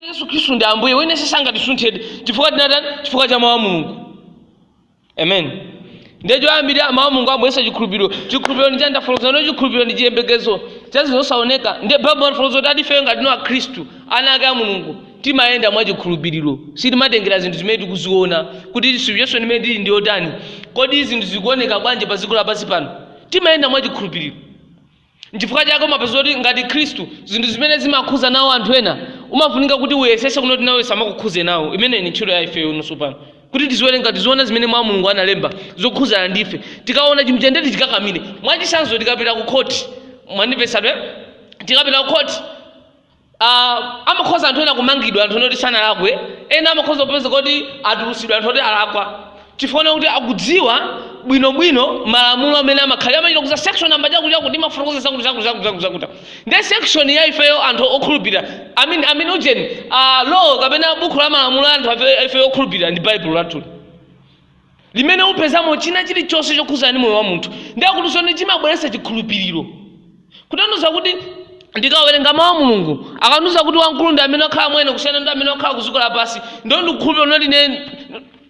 yesu khristu ndi ambuye wina sangatisunthe chifukwa tinatani chifukwa cha mawu a mulungu amen ndiye choyambira mawu a mulungu amabweretsa chikhulupiriro chikhulupiriro ndi chani tafotokozano ndiye chikhulupiriro ndi chiyembekezo cha zinthu zosaoneka ndiye baibulo imafotokoza kuti ati ifeyo ngati akhristu ana ake a mulungu timayenda mwa chikhulupiriro sitimatengera zinthu zimene tikuziona kuti situation imene tili ndi yotani kodi zinthu zikuoneka bwanji pa dziko lapansi pano timayenda mwa chikhulupiriro nchifukwa chake umapeza kuti ngati khristu zinthu zimene zimakhuza nawo anthu ena umafunika kuti uyesese kunoti nawe samakukhuze nawo imeneyi ni ntchito ya ifeyo tonse pano kuti tiziwerenga tiziona zimene mawu a mulungu analemba zokhuzana ndi ife tikaona chinthucho nde tichikakamire mwachisanzo tikapita ku khoti mwandipezatu tikapita ku khoti Ah, amakhoza anthu ena kumangidwa anthu ena oti sanalakwe ena amakhoza kupezeka kuti atulusidwa anthu oti alakwa chifukwa kuti akudziwa bwinobwino malamulo amene amakhalira amachita kuuza section namba chakuti chakuti imafotokoza zakuti zakuti zakuti zakuti zakuti ndiye section ya ifeyo anthu okhulupirira i mean i mean ujeni ah, law kapena buku la malamulo a anthu afe- ifeyo okhulupirira ndi baibulo lathuli limene upezamo china chilichonse chokhudzana ndi moyo wa munthu ndiye akutinso ndi chimabweretsa chikhulupiriro kutanthauza kuti ndikawerenga mawu a mulungu akandiuza kuti wamkulu ndi amene akhala mwa ine kusiyana ndi amene akhala ku dziko lapansi ndiye ndikukhulupirira kunoti ine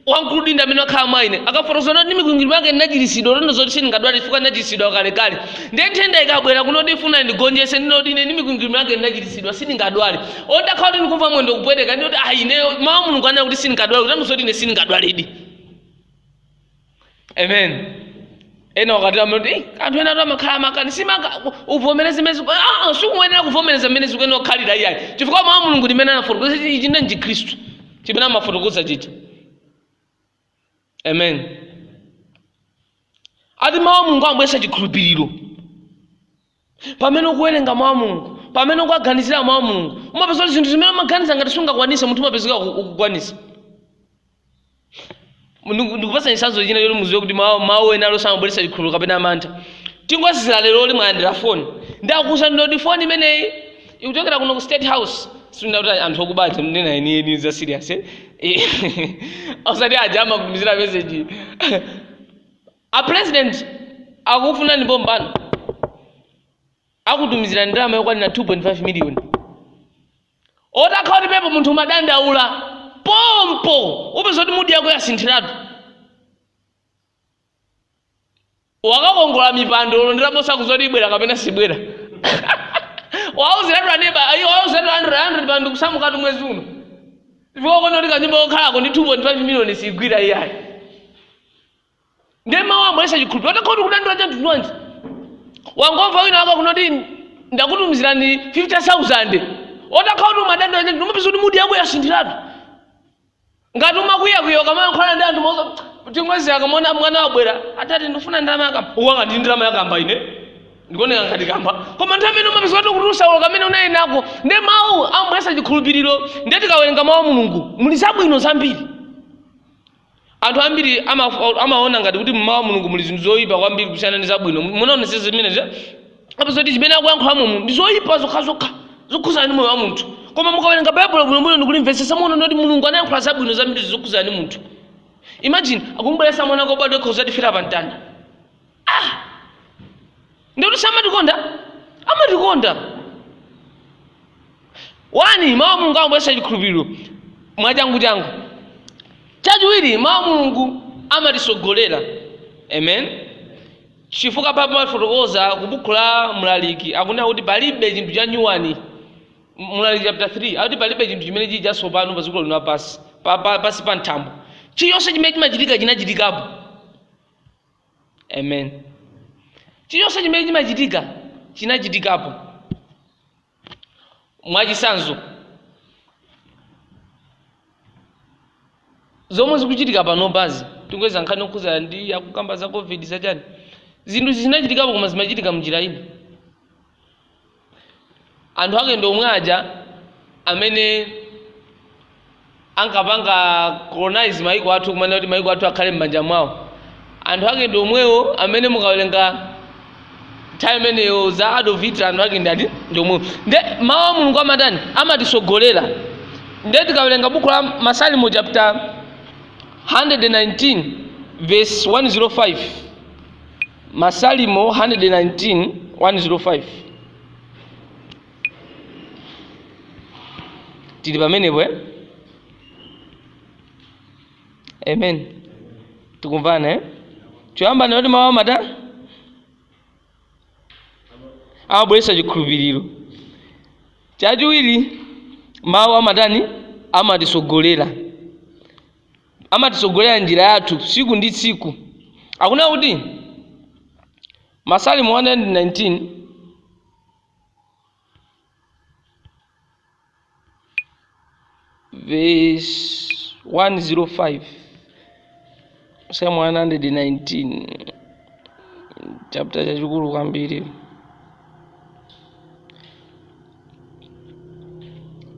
wamkulu ndi amene akhala mwa ine akafotokoza kunoti ndi mikwingwirima yake ndinachiritsidwa kutanthauza kuti sindingadwale chifukwa ndinachiritsidwa kalekale ndiye nthenda ikabwera kunoti ifuna ndigonjetse ndinoti ine ndi mikwingwirima yake ndinachiritsidwa sindingadwale atakhala kuti ndikumva mwendo kupweteka ndikuti ayi ineyo mawu a mulungu anena kuti sindingadwale kutanthauza kuti ine sindingadwaledi amen ena mwakuti amati "Eh, anthu ena awa amakhala amakani siukuvomereza zimene ziku- Ah, ah, sikuyenera kuvomereza zimene zikuyenera kukhalira iyayi chifukwa mawu a mulungu mmene anafotokozera ichi ndiye chikhristu chimene amafotokoza chija amen ati mawu a mulungu amabweretsa chikhulupiriro pamene ukuwerenga mawu a mulungu pamene ukuwaganizira mawu a mulungu umapeza kuti zinthu zimene umaganiza ngati sungakwanise munthu umapezeka uku- ukukwanisa Ndiku- ndikupatsa chitsanzo china choti muziwe kuti mawu mawu ena alonse amabweretsa chikhulupiriro kapena amantha tingoyezera leroli mwalandira foni ndiye akuuza ndinoti foni imeneyi ikuchokera kuno ku state house sikuti anthu okuba aja ndikunena zenizeni za serious eh? Eh, osati aja amakutumizira message a president akufunani pompano akutumizira ndalama yokwanira 2.5 million atakhala kuti pamenepo munthu umadandaula pompo upeza kuti mudi yako yasinthiratu wakakongola mipando ulo nditaposa kuzoti ibwera kapena sibwera wauziratu aneba ayi wauziratu landlord pano ndikusamukatu mwezi uno chifukwa kuno kuti kanyumba kokhalako ndi 2.5 miliyoni sigwira iyayi ndiye mawu amabweresa chikhulupiriro utakhala kudandaula cha mtundu wanji wangomva wina wako kunoti ndakutumizirani 50000 utakhala kuti umadandaula cha mtundu umapeza kuti mudi yako yasinthiratu ngati umakwiyakwiya ukamayankhulana ndi anthu mozo timwezi akamona mwana wabwera atati ndifuna ndalama ya kamba uwanga ndi ndalama ya kamba ine ndikuoneka ngati kamba koma nthawi imene umapeza kuti ukutulusa ulo kamene unali nako ndi mawu amabweresa chikhulupiriro ndiye tikawerenga mawu a mulungu muli zabwino zambiri anthu ambiri ama- amaona ngati kuti mmawu a mulungu muli zinthu zoyipa kwambiri kusiyana ndi zabwino munaonetsetsa zimenezi apeza kuti zimene akuyankhula mulungu ndi zoyipa zokhazokha zokhudzana ndi moyo wa munthu koma mukawerenga baibulo bwinobwino ndikulimvetsetsa muona kuti mulungu anayankhula zabwino zambiri zokhudzana ndi munthu imagine akumubweresa mwana wake obadwa yekha kudzatifera pa mtanda ah ndikuti samatikonda amatikonda wani mawu a mulungu amabweresa chikhulupiriro mwachanguchangu chachiwiri mawu a mulungu amatisogolera amen Chifukwa Bible imafotokoza ku buku la Mlaliki akunena kuti palibe chinthu cha nyuwani M- Mlaliki chapter 3 akuti palibe chinthu chimene chili chatsopano pa dziko lino lapansi pa, pa, pansi pa thambo chilichonse chimene chimachitika chinachitikapo amen chilichonse chimene chimachitika chinachitikapo mwachitsanzo zomwe zikuchitika panopazi tingoyerekeza nkhani yokhudzana ndi akukamba za covid zachani zinthu izi zinachitikapo koma zimachitika mnjira ina anthu ake ndi omwe aja amene ankapanga colonize maiko athu kumafuna kuti maiko athu akhale m'manja mwawo anthu ake ndi omwewo amene mukawerenga time imeneyo za adolf hitler anthu ake ndi ati ndi omwewo nde mawu a mulungu amatani amatisogolera nde tikawerenga buku la masalimo chapter 119 verse 105 masalimo 119 105 tili pamenepo eh? amen tikumvana eh? choyamba ndinati mawu amatani amabweretsa chikhulupiriro chachiwiri mawu amatani amatisogolera amatisogolera njira yathu tsiku ndi tsiku akunena kuti masalimo 119 verse 105 Psalm 119 chapter chachikulu kwambiri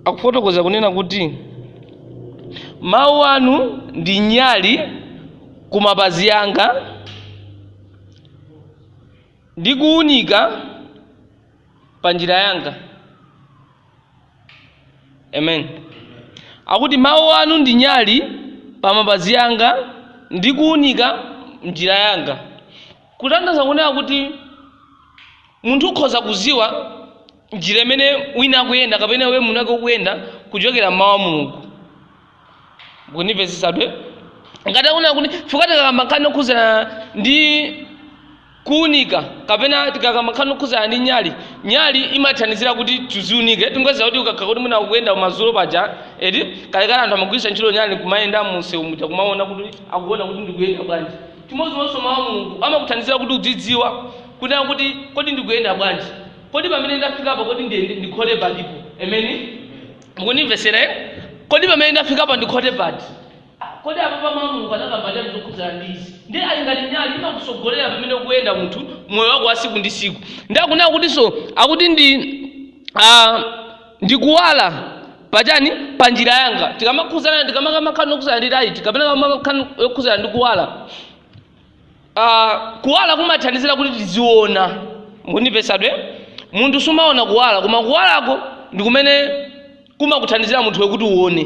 akufotokoza kunena kuti mawu anu ndi nyali ku mapazi anga ndi kuunika pa njira yanga. Amen. Akuti mawu anu ndi nyali pa mapazi anga ndi kuunika njira yanga. Kutanthauza kunena kuti munthu ukhoza kuziwa njira imene wina akuyenda kapena iwe munake ukuyenda kuchokera m'mawu a Mulungu. mukundimvetsetsabe ngati akunena kuti chifukwa tikakamba nkhani yokhuzana ndi kuunika kapena tikakamba nkhani yokhuzana ndi nyali nyali imathandizira kuti tiziunike tingoziwa kuti ukakhala kuti mwina ukuyenda kumadzulo paja eti kalekale anthu amagwiritsa ntchito nyali kumayenda munsewu muja kumaona kuti akuona kuti ndikuyenda bwanji chimodzimodzinso mawu a mulungu amakuthandizira kuti udzidziwa kunena kuti kodi ndikuyenda bwanji kodi pamene ndafikapo kodi ndikhote pati ameni mukundimvetsera eh? kodi pamene ndafikapa ndikhote pati kodi apapa mawu a mulungu anakamba chani zokhudzana ndi izi ndi ali ngati nyali imakusogolera pamene ukuyenda munthu moyo wako wa siku ndi siku ndi akunena kutinso akuti ndi ah, ndikuwala pachani pa njira yanga tikamakamba nkhani yokhudzana ndi laiti kapena tikamakamba nkhani yokhudzana ndi kuwala Ah, kuwala kumathandizira kuti tiziona mukundimvetsabe munthu sumaona kuwala koma kuwalako ndi kumene kumakuthandizira munthuwe kuti uone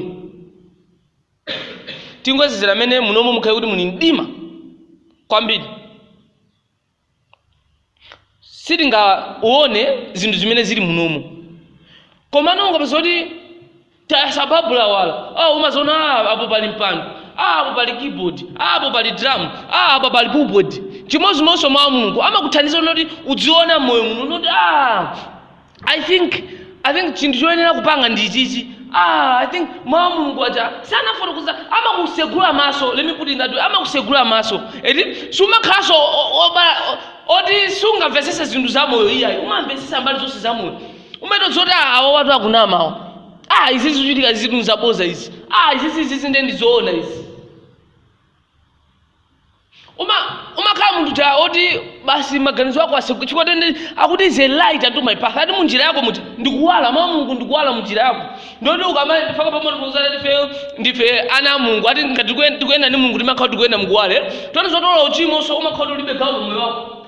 tingoyerekezera mmene munomo mukhale kuti muli mdima kwambiri sitingaone zinthu zimene zili munomu komano ukapeza kuti tayasa babu lawala ah, umaziona ah, apo pali mpando ah, apo pali keyboard ah, apo pali drum ah, apa pali pulpit chimodzimodzinso mawu a mulungu amakuthandizira kuti udziona m'moyo muno kuti ah, i think i think chinthu choyenera kupanga ndi chichi ah i think mawu a mulungu aja ja anafotokoza amakusegula maso let me put it that way amakusegula maso eti sumakhalanso o- o- obala o- oti sungamvetsese zinthu za moyo iyayi umamvetsesa mbali zonse za moyo umatha zoti ah, awawatu akunamawo ah izi zikuchitika izi zinthu zaboza izi ah izi izi izi nde ndizoona izi Uma umakhala munthu ja oti basi maganizo ako atseguka chifukwa akuti is a light unto my path. Ati mu njira yako muti ndikuwala mawu a Mulungu ndikuwala mu njira yako. Ndoti ukamale ndifaka pa Mulungu kuzala ndife ndife ana a Mulungu. Ati ngati tikuyenda tikuyenda ndi Mulungu timakhala tikuyenda mukuwala eti. Ndiye zoti uchimonso umakhala ulibe gawo mu moyo wako.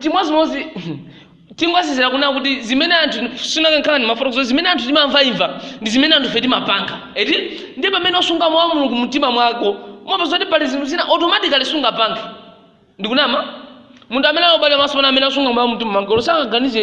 chimodzimodzi tingotsindika kunena kuti zimene anthu sinakakhala ndimafotokozo zimene anthu timamvaimva ndi zimene anthufe timapanga eti ndi pamene usunga mawu a mulungu mumtima mwako umapeza kuti pali zinthu zina automatically sungapange ndikunama munthu amene alobale maso pano amene asunga mawu mumtima mwake olo sangaganize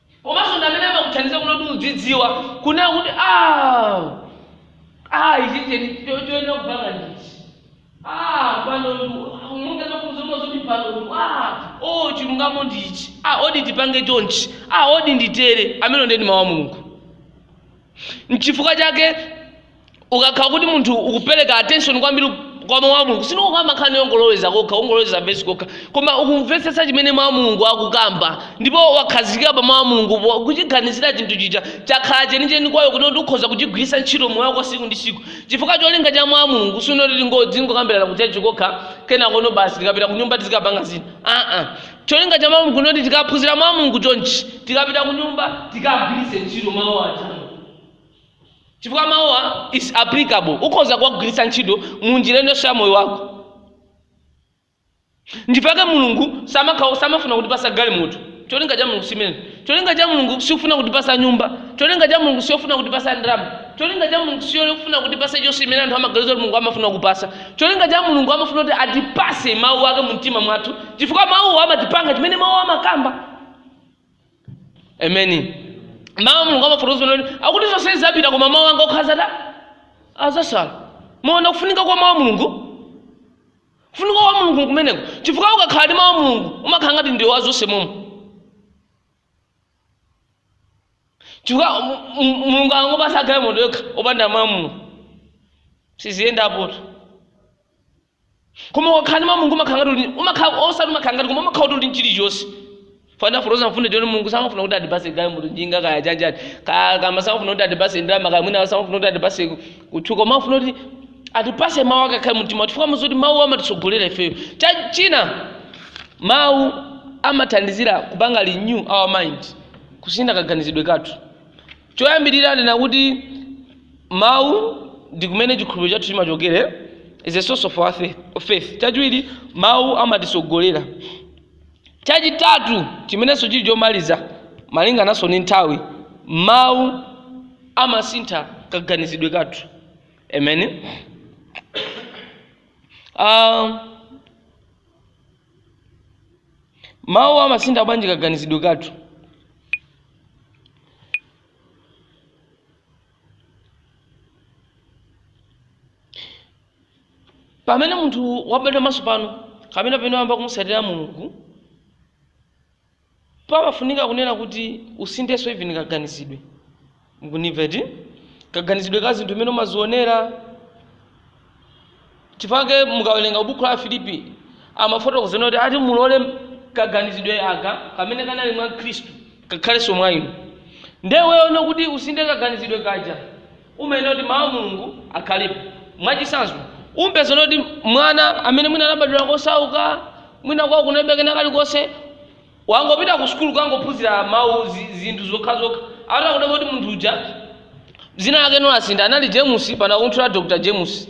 komanso ndi amene amakuthandiza kunena kuti udzidziwa kunena kuti ah, ah, ichi cheni cho- choyenera kupanga ndichi ah, pano ndu- monga mafunso oti pano ndu- ah, oh, chilungamo ndichi ah, odi tipange chonchi ah, odi nditere amene ndi ndi mawu a mulungu nchifukwa chake ukakhala kuti munthu ukupereka attention kwambiri kwa mawu a mulungu sindikukamba nkhani yongoloweza kokha ungoloweza vesi kokha koma ukumvetsetsa chimene mawu a mulungu akukamba ndipo wakhazikika pa mawu a mulungu po- kuchiganizira chinthu chija chakhala chenicheni kwa iwe kuti kuti ukhoza kuchigwiritsa ntchito moyo wako siku ndi siku chifukwa cholinga cha mawu a mulungu sinkoti tingokambirana kutchalitchi kokha kenako nno basi tikapita kunyumba tizikapanga zina aa Cholinga cha mawu nkoti tikaphunzira mawu a Mulungu chonchi tikapita kunyumba tikagwiritse ntchito mawu aja chifukwa mawuwa is applicable ukhoza kuwagwiritsa ntchito mu njira ina iliyonse ya moyo wako nchifukwa chake mulungu samakha samafuna kutipatsa galimoto cholinga cha mulungu simene cholinga cha mulungu siofuna kutipatsa nyumba cholinga cha mulungu siofuna kutipatsa ndalama cholinga cha mulungu siofuna kutipatsa chonse chimene anthu amaganiza kuti mulungu amafuna kupatsa cholinga cha mulungu amafuna kuti atipatse mawu ake mu mtima mwathu chifukwa mawuwo amatipanga chimene mawu amakamba ameni mawu a mulungu amafotokoza kuti akuti zonse zizapita koma mawu anga okha azatsala mukuona kufunika kwa mawu a mulungu kufunika kwa mulungu kumeneko chifukwa ukakhala ndi mawu a mulungu umakhala ngati ndiwe wa zonse momwe chifukwa m- m- mulungu angokupatsa galimoto yokha opanda mawu a mulungu siziyendapotu koma ukakhala ndi mawu a mulungu umakhala ngati uli- umakhala osati umakhala ngati koma umakhala kuti uli ndi chilichonse ndafotokoza mfundo yoti mulungu samafuna kuti atipatse galimoto njinga kaya chani kaya kama samafuna kuti atipatse ndalama kaya mwina samafuna kuti atipatse kutchuka amafuna kuti atipatse mawu ake akhale mumtima chifukwa ndizoti mawu amatitsogolera ifeyo Cha- china mawu amathandizira kupanga renew our mind kusintha kaganizidwe kathu choyambirira ndinati mawu ndi kumene chikhulupiriro chathu chimachokera is a source of our faith, of faith. chachiwiri mawu amatitsogolera Chachitatu, chimenenso chili chomaliza malingananso ndi nthawi, mawu amasintha kaganizidwe kathu. Amen. Uh, mawu amasintha bwanji kaganizidwe kathu? Pamene munthu wabadwa mwatsopano kapena pamene wayamba kumutsatira Mulungu, pamafunika kunena kuti usinthenso even kaganizidwe. Mukundimva eti? Kaganizidwe ka zinthu mmene umazionera. Chifukwa chake mukawerenga buku la Afilipi amafotokoza kuti ati mulole kaganizidwe aka kamene kanali mwa Khristu kakhalenso mwa inu. Ndiye iweyo kuti usinthe kaganizidwe kaja umayenera kuti mawu a mulungu akhalepo mwachitsanzo umpeza kuti mwana amene mwina anabadwira kosauka mwina kwawo kunalibe kena kalikonse wangopita ku sukulu kukangophunzira mawu zi- zinthu zokhazokha atha kudabwa kuti munthu uja dzina lake no lasintha anali james pano akutchula dr james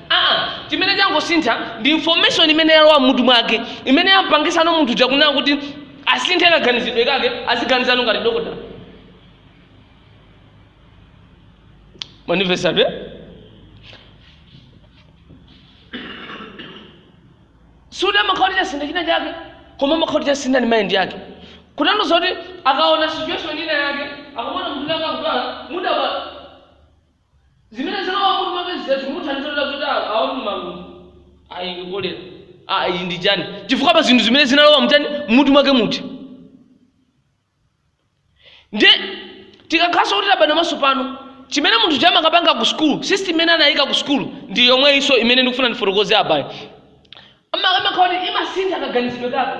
aa chimene changosintha ndi information imene yalowa mmutu mwake imene yampangitsano munthu uja kunena kuti asinthe kaganizidwe kake aziganizano ngati dokotala manifestabe sikuti amakhala kuti chasintha china chake koma amakhala kuti chasintha ndi mind yake kutanthauza kuti akaona situation ina yake akamuona munthu akudwala mudaba Zimene zinalowa m'mutu mwake zija zikumuthandiza kuti adziwe kuti awa ndi malungo, iyi ndi kolera, aa iyi ndi chani, chifukwa pa zinthu zimene zinalowa mu chani, m'mutu mwake muja. Ndiye tikakhalanso kuti tabadwa mwatsopano, chimene munthu uja amakapanga ku sukulu, system imene anayika ku sukulu ndi yomweyinso imene ndikufuna ndifotokoze apayi. Amakhala kuti imasintha kaganizidwe kake.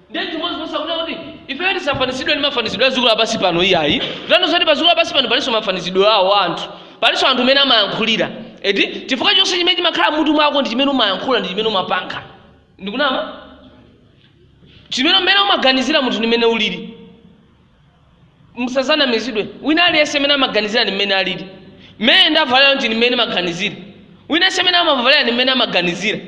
ndiye chimodzimodzi akunena kuti ifeyo tisafanizidwe ndi mafanizidwe a dziko lapansi pano iyayi kutanthauza zoti pa dziko lapansi pano palinso mafanizidwe awo a anthu palinso anthu mmene amayankhulira eti chifukwa chonse chimene chimakhala mmutu mwako ndi chimene umayankhula ndi chimene umapanga ndikunama chimene mmene umaganizira munthu ndi mmene ulili musadzanamizidwe wina aliyense mmene amaganizira ndi mmene alili mmene ndavalira ndi mmene ndimaganizira wina aliyense mmene amavalira ndi mmene amaganizira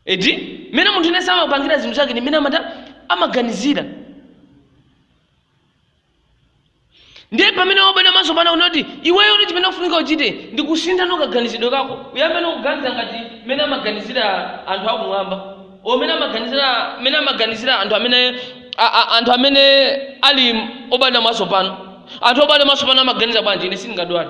Eti? Mmene munthu yense amapangira zinthu zake ndi mmene amatani amaganizira. Ndiye pamene wabadwa mwatsopano akunena kuti iweyo kuti chimene ufunika uchite ndi kusintha no kaganizidwe kako. Uyambe no kuganiza ngati mmene amaganizira anthu akumwamba. Or mmene amaganizira mmene amaganizira anthu amene a, a, anthu amene ali obadwa mwatsopano. Anthu obadwa mwatsopano amaganiza bwanji ine sindingadwale.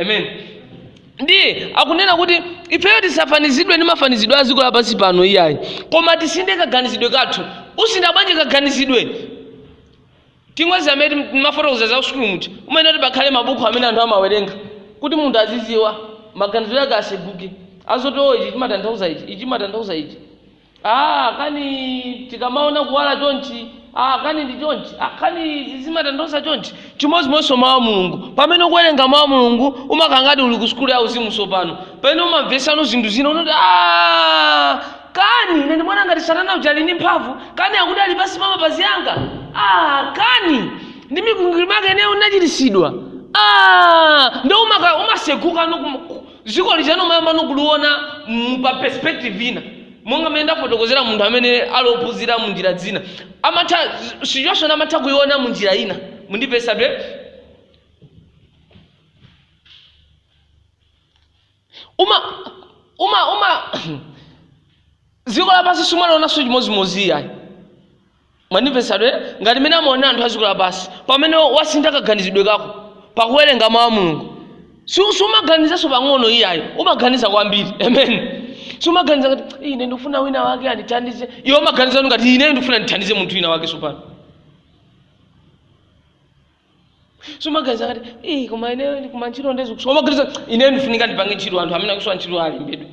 amen ndiye akunena kuti ifeyo tisafanizidwe ndi mafanizidwe a dziko lapansi pano iyayi koma tisinthe kaganizidwe kathu usintha bwanji kaganizidwe tingozi amene ndimafotokoza za kusukulu muja umayenera kuti pakhale mabuku amene anthu amawerenga kuti munthu azidziwa maganizo yake aseguke azoti o ichi chimatanthauza ichi ichi chimatanthauza ichi Ah, kani tikamaona kuwala chonchi ah, kani ndi chonchi ah, kani izi zimatanthauza chonchi chimodzimodzinso mawu a mulungu pamene ukuwerenga mawu a mulungu umakhala ngati uli ku sukulu ya uzimu tsopano pamene umamvetsano zinthu zina kuti ah, kani ine ndimaona ngati satana uja ali ndi mphamvu kani akuti ali pansi pa mapazi anga ah, kani ndi mikwingwirima yake ineyo ndachiritsidwa ah, ndo umaka- umaseguka no kum- dziko lija umayamba no kuliona mu pa perspective ina monga mmene ndafotokozera munthu amene ali ophunzira mu njira zina amatha situation amatha kuiona mu njira ina mukundipeza bwe uma uma uma dziko lapansi sumalionanso chimodzimodzi ayi Mwandimvetsa atu ere? Ngati mmene amaonera anthu a dziko lapansi, pamene wasintha kaganizidwe kako pakuwerenga mau a Mulungu, su sumaganizanso pang'ono iyayi, umaganiza kwambiri. Amen. Sumaganiza ngati ine ndikufuna wina wake andithandize, iwe umaganiza kuti ngati ineyo ndikufuna ndithandize munthu wina wake tsopano. sumaganiza ngati "Eh, koma ine koma ntchito nde zikusowa umaganiza ine ndifunika ndipange ntchito anthu amene akusowa ntchito alembedwe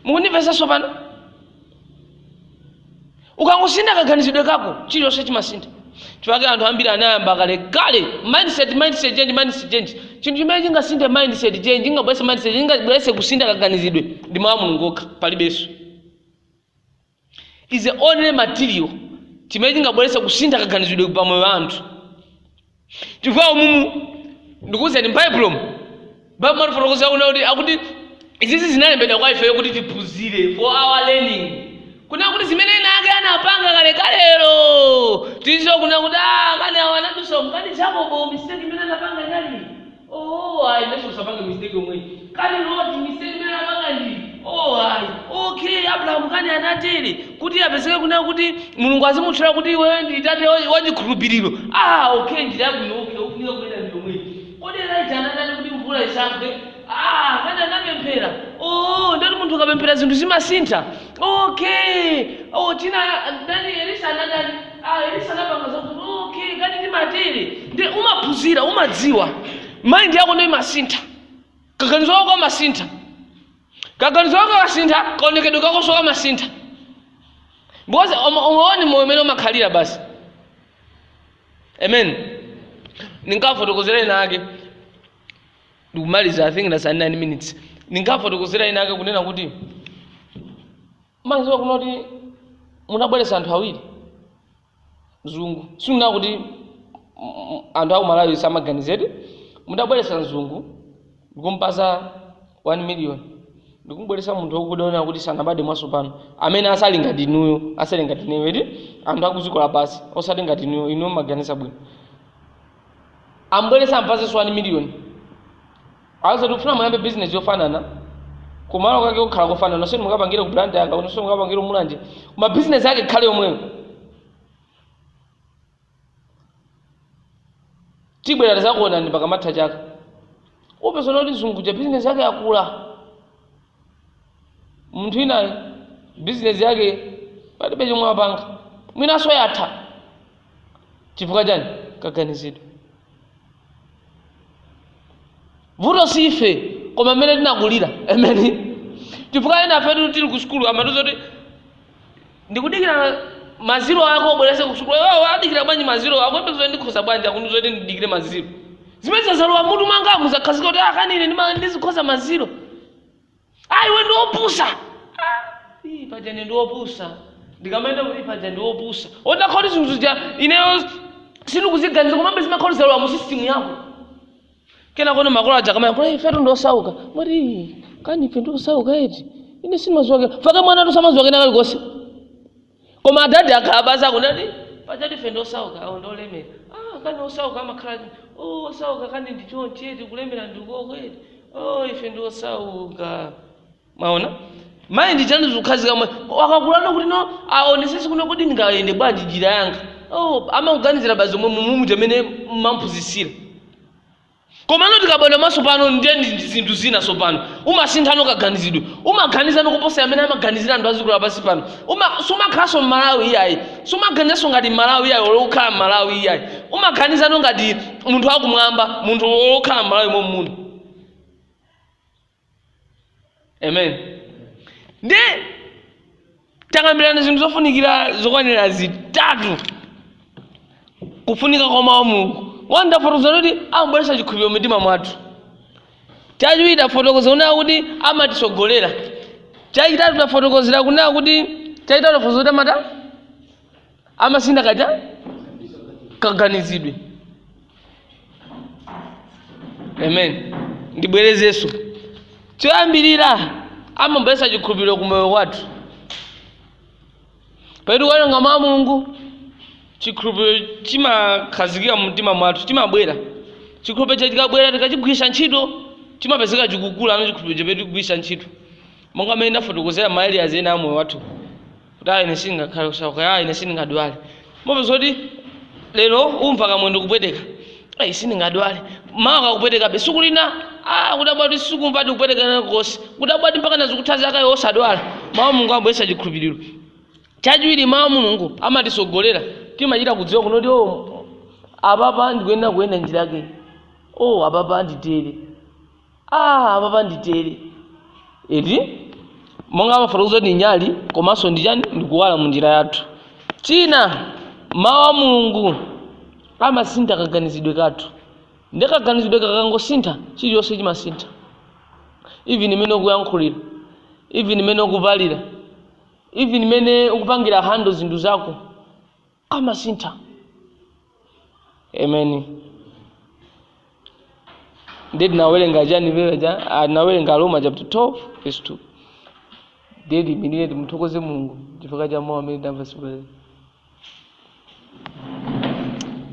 mukundimvetsa tsopano ukangosintha kaganizidwe kako chilichonse chimasintha chifukwa chake anthu ambiri anayamba kalekale mindset mindset change mindset change chinthu chimene chingasinthe mindset change chingabweretse mindset chingabweretse kusintha kaganizidwe ndi mawu a mulungu okha palibenso is the only material chimene chingabweretsa kusintha kaganizidwe pa moyo wa anthu chifukwa umumu ndikuwuzani m'baibulomu baibulo limatifotokozera kunena kuti akuti izizi zinalembedwa kwa ifeyo kuti tiphunzire for our learning kunena kuti zimene ena ake anapanga kalekalelo tidziwe kunena kuti "Ah, kani awa anadusa kani jakobo mistake imene anapanga inali Ooh ayi inenso ndisapange mistake yomweyi. Kani Loti mistake imene anapanga ndi iyi? Ooh ayi. Okay Abrahamu kani anatere kuti apezeke kunena kuti Mulungu azimutchula kuti iweyo ndi tate wa- wa chikhulupiriro. Ah okay njira yabwino okay ofunika kuyenda ndi yomweyi. Kodi Elijah anatani kuti mvula isagwe? Ah kani anapemphera? Ooh ndiye kuti munthu ukapemphera zinthu zimasintha? Okay. Oh china ndani Elisa anatani? ayi sanapanga zokuti okay kani ndimatere ndi umaphunzira umadziwa mind yako ndiye imasintha kaganizidwe kako kamasintha kaganizidwe kako kamasintha kaonekedwe kakonso kamasintha because uma- umaone moyo umene umakhalira basi amen ndinkafotokozera ena ake ndikumaliza i think that's 9 minutes ndinkafotokozera ena ake kunena kuti Umaziwa kunena kuti mutabweretsa anthu awiri mzungu sindikunena kuti anthu aku Malawi samaganiza eti mutabweretsa mzungu ndikumpasa 1 million ndikumubweretsa munthu wakuda kunena kuti sanabade mwasopano amene osati ngati inuyo osati ngati ineyo eti anthu akuziko lapasi osati ngati inuyo inuyo mumaganiza bwino amubweretse ampasenso 1 million Aziti tikufuna muyambe business yofanana kumalo kake kukhala kofanana nonse mukapangire ku Blantyre nonse mukapangire mulanje koma business yake ikhale yomweyo tibwera tizakuonani pakamatha chaka upeza kuti mzungu uja business yake yakula munthu winayo bizinesi yake palibe chomwe wapanga mwinanso yatha chifukwa chani kaganizidwe vuto si ife koma mmene tinakulira amen chifukwa enafetu tili ku sukulu amatiuza kuti ndikudikira ma zero ako ubwereze kusukulu iwo adikira bwanji ma zero akuyembekezera ndikhoza bwanji akundiuza kuti ndidikire ma zero zimene zazalowa mmutu mwanga muzakhazikika kuti ah kani ine ndima- ndizikhoza ma zero iwe ndiopusa Ii, paja ndiopusa ndikamayenda kuti paja ndiopusa utha kuti zinthu zija ineyo sindikuziganiza komabe zimakhala zalowa mu sisitimu yako kenakono makolo aja akamayankhula ifetu ndi osauka umati kani ife ndi osauka eti ine sindimaziwa chifukwa mwanatu samaziwa kena kalikonse koma adadi akhala pansi kunena kuti pajatu ife ndi osauka awo ndi olemera ah kani osauka amakhala eti oh osauka kani ndi chonchi eti kulemera ndi uko eti oh ife ndi osauka mwaona mind yake zikukhazikika mwana wakakulano kuti no aonesese kunena kuti ndingayende bwanji njira yanga oh, amakuganizira basi zomwe mmutumu mmene mmamphunzitsira komano ukabadwa mwasopano ndiye ndi ndi zinthu zina tsopano umasinthano kaganizidwe umaganizano kuposa mmene amaganizira anthu a dziko lapansi pano Uma- sumakhalanso mmalawi iyayi sumaganizanso ngati mmalawi iyayi olo ukhale mmalawi iyayi umaganizano ngati munthu wakumwamba munthu okhala mmalawi mommuno amen nde takambirana zinthu zofunikira zokwanira zitatu kufunika kwa mawu a mulungu one tafotokoza kuti amabweretsa chikhulupiriro mumitima mwathu chachiwiri tafotokoza kunena kuti amatitsogolera chachitatu tafotokozera kunena kuti chachitatu tafotokoza kuti amata amasintha kaja kaganizidwe amen ndibwerezenso choyambirira amabweretsa chikhulupiriro ku moyo wathu pamene tikuwerenga mawu a mulungu chikhulupiriro chimakhazikika mu mtima mwathu chimabwera chikhulupiriro cha chikabwera tikachigwiritsa ntchito chimapezeka chikukula ndi chikhulupiriro chimene tikugwiritsa ntchito monga mmene ndafotokozera ma areas ena a moyo wathu kuti ayi ine sindingakhale osauka ayi ine sindingadwale mopeza kuti lero umva kamwendo kupweteka ayi sindingadwale mawa kakupwetekabe siku lina ah, kudabwa kuti sukumva kupweteka nakosi kudabwa kuti mpaka nazikutha zaka iwe osadwala mawu a mulungu amabweretsa chikhulupiriro chachiwiri mawu a mulungu amatitsogolera timachita kudziwa kunena kuti o apapa ndikuyenera kuyenda njira yake o apapa nditere Aaa apapa nditere eti monga amafotokoza kuti nyali komanso ndi chani ndikuwala mu njira yathu china mawu a mulungu amasintha kaganizidwe kathu nde kaganizidwe kakangosintha chilichonse chimasintha even mmene ukuyankhulira even mmene ukuvalira even mmene ukupangira handle zinthu zako zimasintha. Amen. Ndiye tinawerenga chani paja ah, tinawerenga Aroma chapter 12 verse 2. Ndiye tiimirire timuthokoze Mulungu chifukwa cha mawu amene tamva tsiku la lero.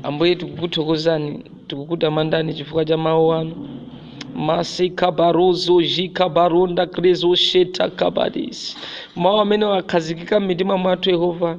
Ambuye tikukuthokozani, tikukutamandani chifukwa cha mawu anu. Masika baruzu jika barunda krizu sheta kabadis. Mawu amene akhazikika m'mitima mwathu Yehova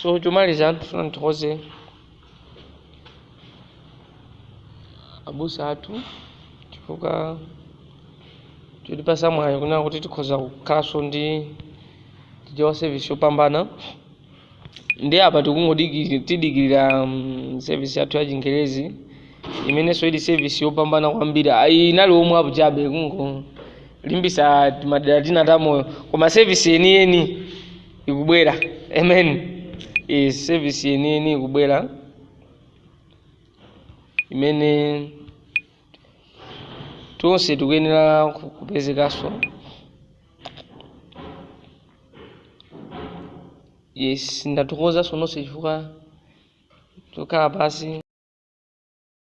so chomaliza ndifuna ndithokoze abusa athu chifukwa chotipatsa mwayi kunena kuti tikhoza kukhalanso ndi Chichewa service yopambana ndi apa tikungodikiri tidikirira um, service yathu ya chingerezi imenenso ili service yopambana kwambiri Ah, iyi inali omwe apo chabe kungolimbisa timadera tina tamoyo koma service yeniyeni ikubwera amen e, service yeniyeni ikubwera imene Tonse tikuyenera ku- kupezekanso. Yes, ndathokoza nonse chifukwa chokhala pansi.